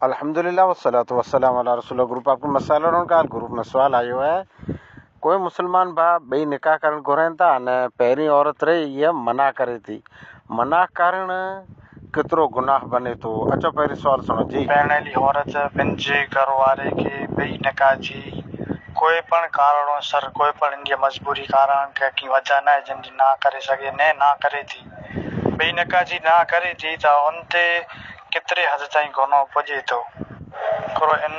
الحمدللہ والصلاة والسلام علی رسول گروپ آپ کي مسئلو رھڻ ڪال گروپ ۾ سوال آيو آھي ڪوئي مسلمان ڀاء ٻئي نڪاح ڪرڻ گھرين ٿا ان پهرين عورت رھي اھا منع ڪري ٿي منع ڪرڻ ڪيترو گناھ بني ٿو اچو پهرين سوال سڻو جي. پرڻيل عورت پنھنجي گھر واري کي ٻئي نڪاح جي ڪوئي پڻ ڪارڻ سر ڪوئي پڻ ان جي مجبوري ڪارڻ ڪا ڪي وجه ناھي جنھن جي ناھ ڪري سگھي ني ناھ ڪري ٿي ٻئي نڪاح جي ناھ ڪري ٿي ته ان تي ڪيتري حد تائين گنهه پڄي ٿو. پر ان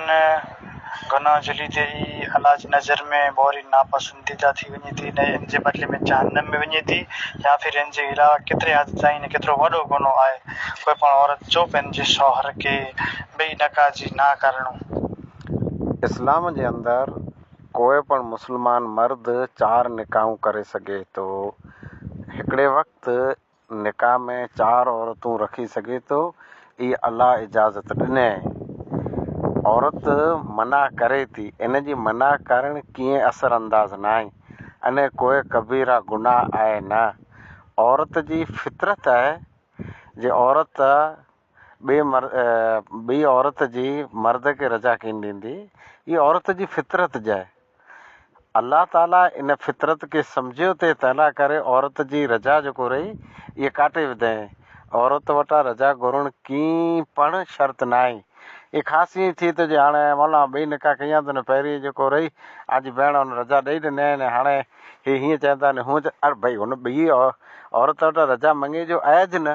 گنهه جي ليدي ئي الله جي نظر ۾ ڀوري ناپسنديده ٿي وڃي ٿي نه ان جي بدلي ۾ جهنم ۾ وڃي ٿي يا پھر ان جي علاوه ڪيتري حد تائين نه ڪيترو وڏو گنهه آهي ڪوئي پڻ عورت جو پنهنجي شوهر کي ٻئي نڪاح جي نا ڪرڻو. اسلام جي اندر ڪوئي پڻ مسلمان مرد چار نڪاحون ڪري سگهي ٿو. هڪڙي وقت نڪاح ۾ چار عورتون رکي سگهي ٿو، اي الله اجازت ڏني. عورت منع ڪري ٿي، ان جي منع ڪرڻ ڪيئن اثر انداز ناهي، ان ڪوئي ڪبيره گناهه آهي نه. عورت جي فطرت آهي جي عورت ٻئي مر ٻئي عورت جي مرد کي رضا ڪين ڏيندي هي عورت جي فطرت جاء الله تعالي ان فطرت کي سمجهيو تي تنهلا ڪري عورت جي رضا جيڪو رهي هي ڪاٽي وڌائين عورت وٽا رضا گهرڻ ڪين پڻ شرط ناهي هي خاص ائين ٿئي ٿو جي هاڻي مولانا ٻئي نڪاح ڪيا ته نه پهرين جيڪو رهي آج بهڻ ان رضا ڏئي ڏني آهي نه هاڻي هي هيئن چئن ٿا نه هونئن چئن ار ڀئي هن ٻئي عورت وٽا رضا مڱي جو آهي جي نه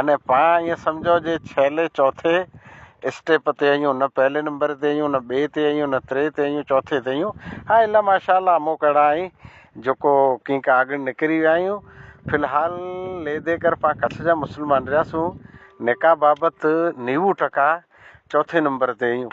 ان پان ائين سمجهو جي ڇهلي چوٿي اسٽيپ تي آهيون نه پهلي نمبر تي آهيون نه ٻئي تي آهيون نه تري تي آهيون چوٿي تي آهيون ها الا ماشاء الله مون ڪهڙا آهين جيڪو ڪنهن کان اڳ نڪري ويا آهيون في الحال لي دي ڪر پان ڪڇ جا مسلمان رهياسون نڪاح بابت نيوو ٽڪا چوٿي نمبر تي آهيون